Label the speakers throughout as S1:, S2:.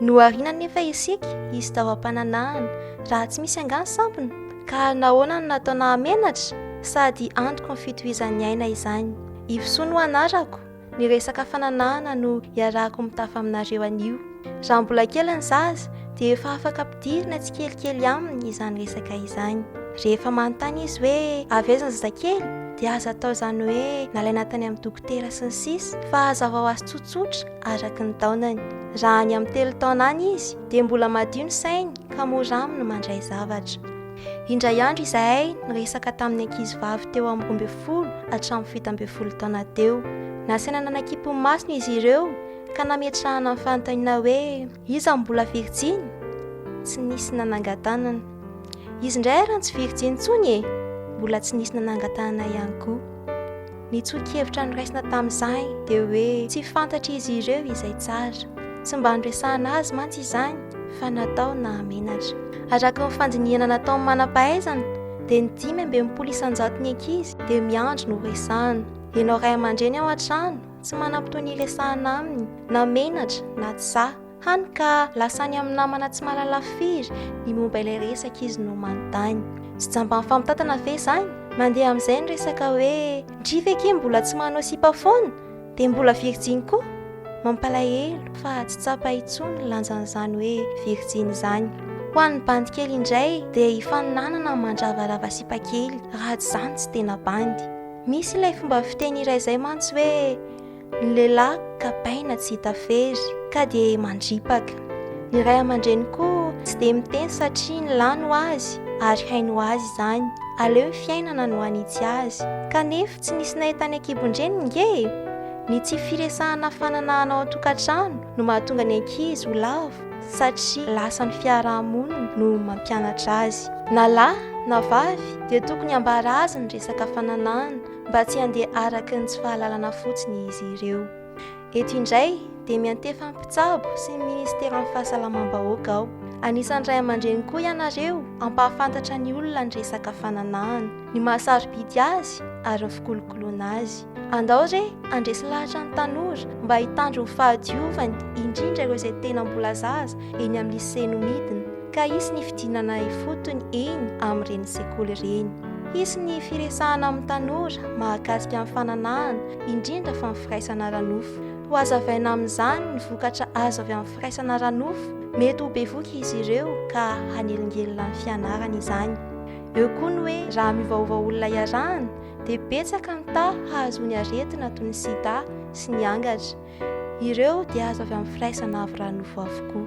S1: Nohariana anefa isika, izy tao am-pananahana. Raha tsy misy angaha ny sampona? Ka ary nahoana no natao nahamenatra? Sady antoko ny fitohizan'ny aina izany. Ivosoa no anarako, ny resaka fananahana no iarahako mitafa aminareo anio. Raha mbola kely ny zaza, dia efa afaka ampidirina tsikelikely aminy izany resaka izany. Rehefa manontany izy hoe avy aiza ny zazakely, dia aza atao izany hoe nalaina tany amin'ny dokotera sy ny sisa, fa hazavao azy tsotsotra, araka ny taonany. Raha any amin'ny telo taona any izy, dia mbola madio ny sainy ka mora aminy mandray zavatra. Indray andro izahay niresaka tamin'ny ankizivavy teo amin'ny roa ambin'ny folo hatramin'ny fito ambin'ny folo taona teo. Nasaina nanakimpy ny masony izy ireo ka nametrahana ny fanontaniana hoe iza no mbola virjiny? Tsy nisy nanangan-tanana. Izy indray ary tsy virjiny intsony e! Mbola tsy nisy nanangan-tanana ihany koa. Ny tsoa-kevitra noraisina tamin'izay dia hoe tsy fantatr'izy ireo izay tsara. Tsy mba noresahana azy mantsy izany fa natao nahamenatra. Araka ny fandinihana nataon'ny manam-pahaizana dia ny dimy amby enimpolo isan-jaton'ny ankizy dia miandry no horesahana. Ianao ray aman-dreny ao an-trano tsy manam-potoana hiresahana aminy na menatra na tsa. Hany ka lasa any amin'ny namana tsy mahalala firy ny momba ilay resaka izy no manontany. Tsy jamban'ny famitantana ve izany? Mandeha amin'izay ny resaka hoe ndry ve akia mbola tsy manao sipa foana? Dia mbola virjiny koa? Mampalahelo fa tsy tsapa intsony ny lanjan'izany hoe virjiny izany. Ho an'ny bandy kely indray dia hifaninanana mandravarava sipa kely raha tsy izany tsy tena bandy. Misy ilay fomba fiteny iray izay mantsy hoe. Ny lehilahy kapaina tsy hita fery ka dia mandripaka. Ny ray aman-dreny koa tsy dia miteny satria ny lahy no azy ary hainy ho azy izany. Aleo ny fiainana no hanitsy azy. Kanefa tsy nisy nahita ny ankibon-dreniny nge e! Ny tsy firesahana fananahana ao an-tokantrano no mahatonga ny ankizy ho lavo satria lasa ny fiaraha-monina no mampianatra azy. Na lahy na vavy dia tokony hambara azy ny resaka fananahana. mba tsy handeha araka ny tsy fahalalana fotsiny izy ireo. Eto indray dia miantefa mpitsabo sy ny ministeran'ny fahasalamam-bahoaka aho. Anisan'ny ray aman-dreny koa ianareo hampahafantatra ny olona ny resaka fananahana, ny mahasarobidy azy ary ny fikolokoloana azy. Andao re handresy lahatra ny tanora mba hitandro ny fahadiovany indrindra ireo izay tena mbola zaza eny amin'ny lycée no midina. Ka hisy ny fidinana ifotony eny amin'ireny sekoly ireny. Hisy ny firesahana amin'ny tanora mahakasika ny fananahana, indrindra fa ny firaisana ara-nofo. Hohazavaina amin'izany ny vokatra azo avy amin'ny firaisana ara-nofo. Mety ho bevoka izy ireo ka hanelingelina ny fianarany izany. Eo koa ny hoe raha miovaova olona iarahana dia betsaka ny taha hahazoany aretina toy ny sida sy ny angatra. Ireo dia azo avy amin'ny firaisana avy raha nofo avokoa.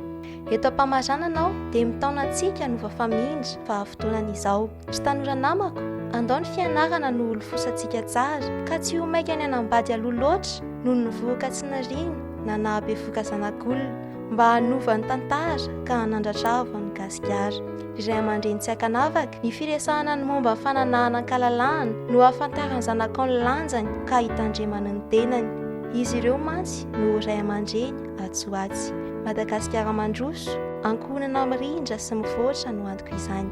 S1: Eto am-pamaranana aho dia mitaona antsika no vafamindra fa afotoanany izao. Ry tanora namako, andao ny fianarana no holofosantsika tsara ka tsy ho maika ny hanambady aloha loatra noho ny vohoka tsy niriana na nahabevoka zanak'olona. mba hanova ny tantara ka hanandratravao an'i Gasikara. Ry ray aman-dreny tsy ankanavaka, ny firesahana ny momba ny fananahana an-kalalahana no ahafantaran'ny zanakao ny lanjany ka hitandremany ny tenany. Izy ireo mantsy no ho ray aman-dreny atsy ho atsy. Madagasikara mandroso, ankohonana mirindra sy mivoatra no antoko izany.